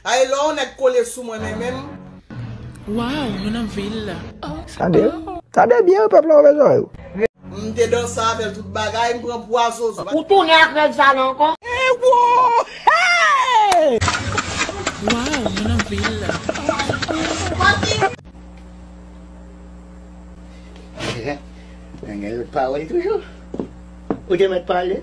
Ay lè yon nèg kole sou mwen men menm. Waww mwen nan vil la oh. Tande byen wi pèp la ouvè zòrèy ou. M te danse avèl tout bagay m pran pwa zozo. Ou tounen ak règ sa la ankò? Waww mwen nan vil la oh. Nènèl pa wèl toujou. Ou te mèt pale.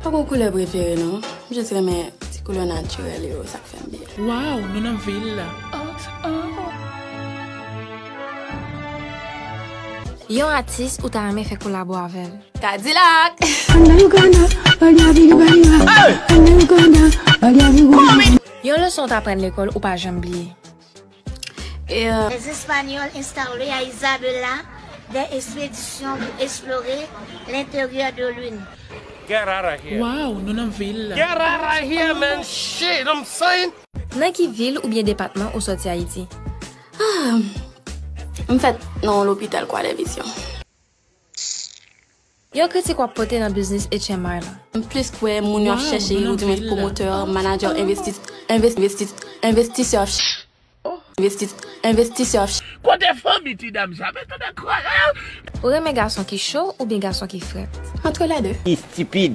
Mpa gon koulè prefere non, mjis renmen ti koulè natirèl yo sak fèm byen. Waw nou nan vil la oh oh. Yon atis ou ta renmen fè kolabo avèl? Kadilak! Yon leson w t aprann lekòl ou pa janm bliye? Lè Espanyòl enstale a Isabela dè espedisyon pou esplore lenteryè de lin. Waww nou nan vil la ooh. Nan ki vil oubyen depatman ou sòti Ayiti? Ahh! M fèt nan yon lopital Kwadèvisyon. Pssst Yon kritik wap pote nan biznis HMR lan. M plis kwè moun yo ap chèche yo di mwen pwomotè, manadjè, envestisè ap chèche yo. Kote fanmi ti dam sa mwen tande kre. Ou renmen gason ki cho oubyen gason ki frèt? Antre les deux. Istipid!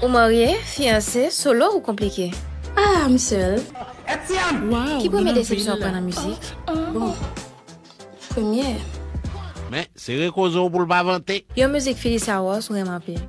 Ou marye, fiyanse, solo ou konplike? Ah, m sèl. Ki premye desepsyon ou pran nan mizik? Bon, premye. Men, sere koze w pou l pa vante. Yon mizik Philly Saros ou renmen anpil?